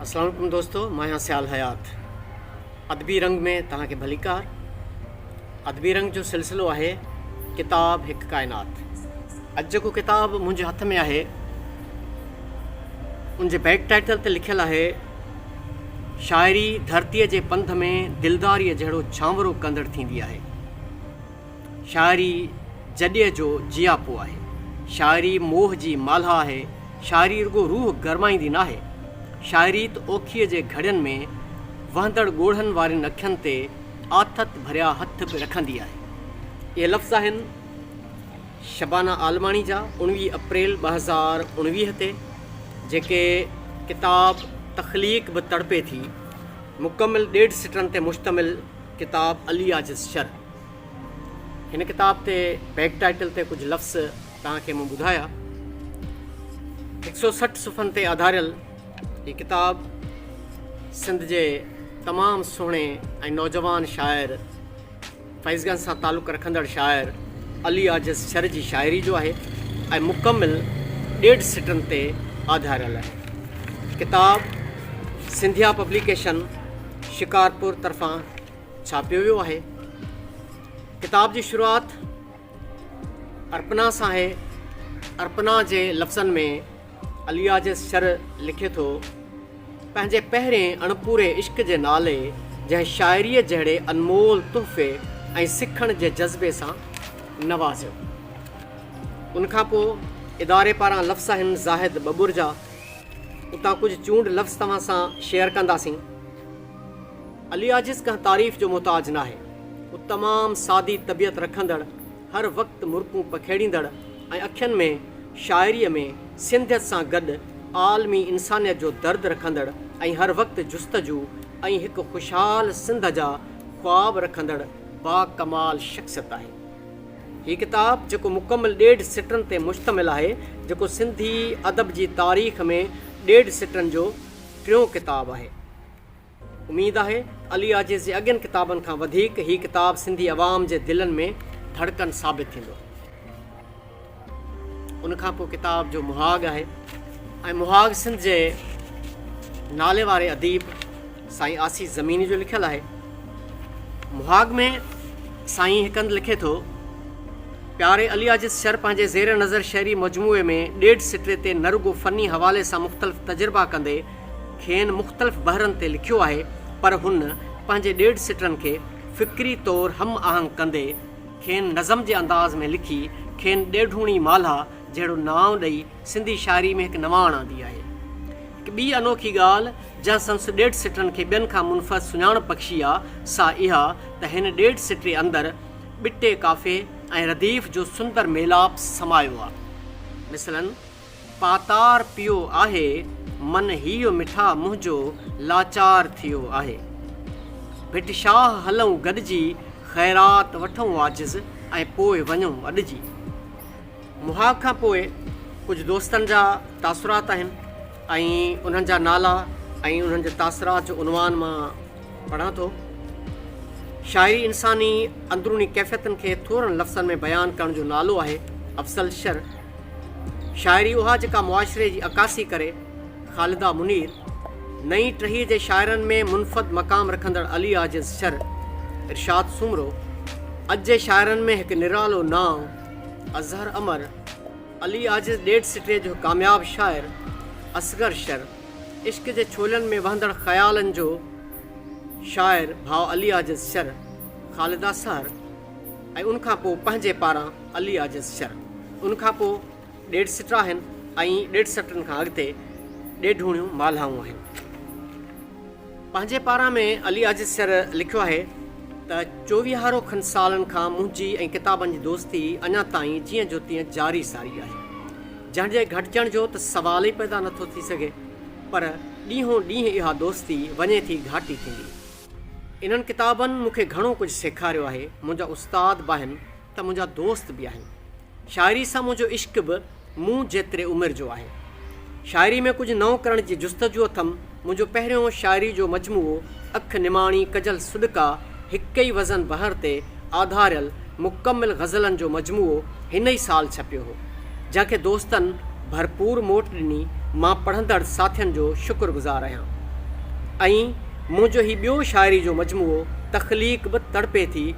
اسلام عليڪم دوستو مان آهيان سيال حيات ادبي رنگ ۾ توهان کي ڀليڪار ادبي رنگ جو سلسلو آهي ڪتاب هڪ ڪائنات اڄ جيڪو ڪتاب منهنجي هٿ ۾ آهي ان جي بيڪ ٽائيٽل تي لکيل آهي شاعري ڌرتيء جي پنڌ ۾ دلداريء جهڙو ڇانورو ڪندڙ ٿيندي آهي. شاعري جڏيء جو جياپو آهي. شاعري موهه جي مالها آهي. شاعري رڳو روح گرمائيندي ناهي. شاعري ته اوکيء جي گهڙين ۾ وهندڙ ڳوڙهن وارين اکين تي آٿت ڀريا هٿ به رکندي آهي. اهي لفظ آهن. شبانه عالماڻي جا اڻويهه اپريل ٻه هزار اڻويهه تي جيڪي ڪتاب تخليق به تڙپي ٿي مڪمل ڏيڍ سٽرن تي مشتمل ڪتاب علي عاجز شر هن ڪتاب تي بيڪ ٽائيٽل تي ڪجهه لفظ توهان کي مون ٻڌايا هڪ سو سٺ صفحن تي آڌاريل هي ڪتاب سنڌ جي تمام سهڻي ۽ نوجوان شاعر فيضگنج سان تعلق رکندڙ شاعر علي عاجز شر جي شاعري جو آهي ۽ مڪمل ڏيڍ سٽن تي آڌاريل آهي. ڪتاب سنڌيا پبليڪيشن شڪارپور طرفان ڇاپيو ويو آهي. ڪتاب جي شروعات ارپنا سان آهي. ارپنا جي لفظن ۾ الياجس شر لکي ٿو، پنهنجي پهرين اڻپوري عشق جي نالي جنهن شاعريء جهڙي انمول تحفي ۽ سکڻ جي جذبي سان نوازيو. ان کان پوء اداري پاران لفصاحن زاهد ٻٻرجا اتان ڪجهه چونڊ لفظ توهان سان شيئر ڪنداسين. الياجس ڪنهن تعريف جو محتاج ناهي. هو تمام سادي طبيعت رکندڙ، هر وقت مرڪون پکيڙيندڙ ۽ اکين ۾ شاعريء ۾ سنڌيت سان گڏ عالمي انسانيت جو درد رکندڙ ۽ هر وقت جستجو ۽ هڪ خوشحال سنڌ جا خواب رکندڙ با ڪمال شخصيت آهي هي ڪتاب جيڪو مڪمل ڏيڍ سٽرن تي مشتمل آهي جيڪو سنڌي ادب جي تاريخ ۾ ڏيڍ سٽرن جو ٽيون ڪتاب آهي. اميد آهي علي عاجز جي اڳين ڪتابن کان وڌيڪ هي ڪتاب سنڌي عوام جي دلن ۾ ڌڙڪن ثابت ٿيندو. ان کان پوء ڪتاب جو مهاڳ آهي ۽ مهاڳ سنڌ جي نالي واري اديب سائين آسيس زميني جو لکيل آهي. مهاڳ ۾ سائين هڪ هنڌ لکي ٿو پياري علي عاجز شر پنهنجي زير نظر شعري مجموعي ۾ ڏيڍ سٽري تي نه رڳو فني حوالي سان مختلف تجربا ڪندي کين مختلف بحرن تي لکيو آهي پر هن پنهنجي ڏيڍ سٽرن کي فڪري طور هم آهنگ ڪندي کين نظم جي انداز ۾ لکي کين ڏيڍوڻي مالها جهڙو نانء ڏئي سنڌي شاعري ۾ هڪ نواڻ آندي آهي. هڪ ٻي انوکي ڳالهه جنهن سندس ڏيڍ سٽرن کي ٻين کان منفرد سڃاڻپ بخشي آ سا اها ته هن ڏيڍ سٽري اندر ٻٽي قافي ۽ رديف جو سندر ميلاپ سمايو آ. مثلاً. پاتار پيو آهي من هيء مٺا منهنجو لاچار ٿيو آهي ڀٽ شاهه هلئون گڏجي خيرات وٺئون عاجز ۽ پوء وڃئون اڏجي مها کان پوء ڪجهه دوستن جا تاثرات آهن ۽ انهن جا نالا ۽ انهن جي تاثرات جو عنوان مان پڙهان ٿو. شاعري انساني اندروني ڪيفيتن کي ٿورن لفظن ۾ بيان ڪرڻ جو نالو آهي افضل شر. شاعري اها جيڪا معاشري جي عڪاسي ڪري. خالده منير، نئين ٽهيء جي شاعرن ۾ منفد مقام رکندڙ علي عاجز شر، ارشاد سومرو، اڄ جي شاعرن ۾ هڪ نرالو نانء، اظهر امر، علي عاجز ڏيڍ سٽيء جو هڪ ڪامياب شاعر، اصغر شر، عشق جي ڇولن ۾ وهندڙ خيالن جو شاعر ڀاء علي عاجز شر، خالده سحر ۽ ان کان پوء پنهنجي پاران علي عاجز شر، ان کان پوء ڏيڍ سٽ آهن ۽ ڏيڍ سٽن کان اڳتي ڏيڍوڻيون مالهائون آهن. پنهنجي پاران ۾ علي عاجز سر لکيو آهي ته چوويهارو کن سالن کان منهنجي ۽ ڪتابن جي دوستي اڃا تائين جيئن جو تيئن جاري ساري آهي. جنهن جي گهٽجڻ جو ته سوال ئي پيدا نٿو ٿي سگهي. پر ڏينهون ڏينهن اها دوستي وڃي ٿي گهاٽي ٿيندي. انهن ڪتابن مون کي گهڻو ڪجهه سيکاريو آهي. منهنجا استاد به آهن. ته منهنجا دوست به آهن. شاعري سان منهنجو عشق به مون جيتري عمر جو آهي. شاعري ۾ ڪجهه نئون ڪرڻ جي جستجو اٿم. منهنجو پهريون شاعري جو مجموعو اک نماڻي ڪجل سڏڪا هڪ ئي وزن بحر تي آڌاريل مڪمل غزلن جو مجموعو هن ئي سال ڇپيو هو. جنهن کي دوستن ڀرپور موٽ ڏني. مان پڙهندڙ ساٿين جو شڪر گذار آهيان. ائين منهنجو هي ٻيو شاعري جو مجموعو تخليق به تڙپي ٿي.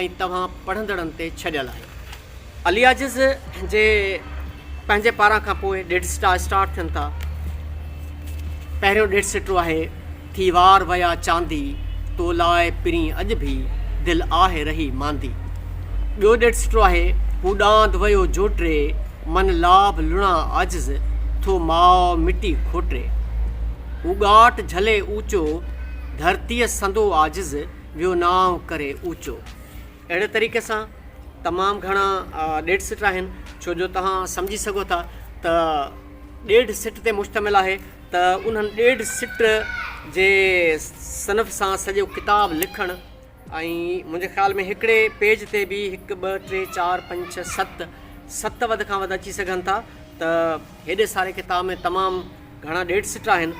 ۽ توهان پڙهندڙن تي ڇڏيل آهيو. الياجز جي پنهنجي پاران کان پوء ڏيڍ سٽا اسٽارٽ ٿين ٿا. پهريون ڏيڍ سٽو آهي، ٿي وار ويا چاندي، تو لاء پرين اڄ ڀي، دل آهه رهي ماندي. ٻيو ڏيڍ سٽو آهي، هو ڏاند ويو جوٽري، من لاڀ لڻا عاجز، ٿو ماء مٽي کوٽري. هو ڳاٽ جهلي اوچو، ڌرتيء سندو عاجز، ويو نانء ڪري اوچو. اهڙي طريقي سان تمام گهڻا ڏيڍ سٽ آهن ڇو جو توهان سمجهي سگهو ٿا ته ڏيڍ سٽ تي مشتمل آهي ته انهن ڏيڍ سٽ جي صنف سان سڄو ڪتاب لکڻ ۽ منهنجي خيال ۾ هڪڙي پيج تي به هڪ ٻه ٽي چار پنج ڇهه ست ست وڌ کان وڌ اچي سگهن ٿا ته هيڏي ساري ڪتاب ۾ تمام گهڻا ڏيڍ سٽ آهن.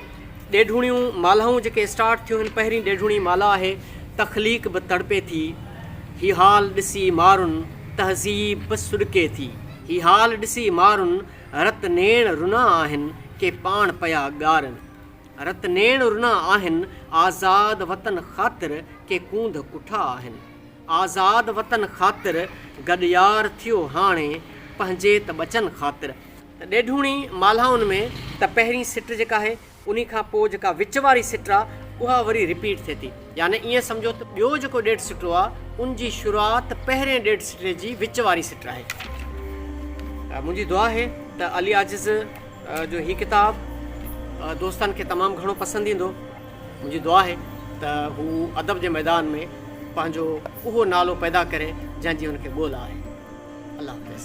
ڏيڍوڻيون مالهائون جيڪي اسٽارٽ ٿيون هن پهرين ڏيڍوڻي مالها آهي. تخليق به تڙپي ٿي. هي حال ڏسي مارن تهذيب به سڏڪي ٿي. هي حال ڏسي مارن رت نيڻ رنا آهن ڪي پاڻ پيا ڳارن. رت نيڻ رنا آهن آزاد وطن خاطر ڪي ڪونڌ ڪٺا آهن. آزاد وطن خاطر گڏيار ٿيو هاڻي پنهنجي ته ٻچن خاطر. ڏيڍوڻي مالهائن ۾ ته پهرين سٽ جيڪا آهي انهي کان پوء جيڪا وچ واري سٽ آ اها وري رپيٽ ٿئي ٿي يعني ائين سمجهو ته ٻيو جيڪو ڏيڍ سٽو آ ان جي شروعات پهرين ڏيڍ سٽي جي وچ واري سٽ آهي. منهنجي دعا آهي ته علي عاجز جو هي ڪتاب دوستن کي تمام گهڻو پسند ايندو منهنجي دعا آهي ته هو ادب جي ميدان ۾ پنهنجو اهو نالو پيدا ڪري جنهن جي هن کي ڳولا آهي الله حافظ.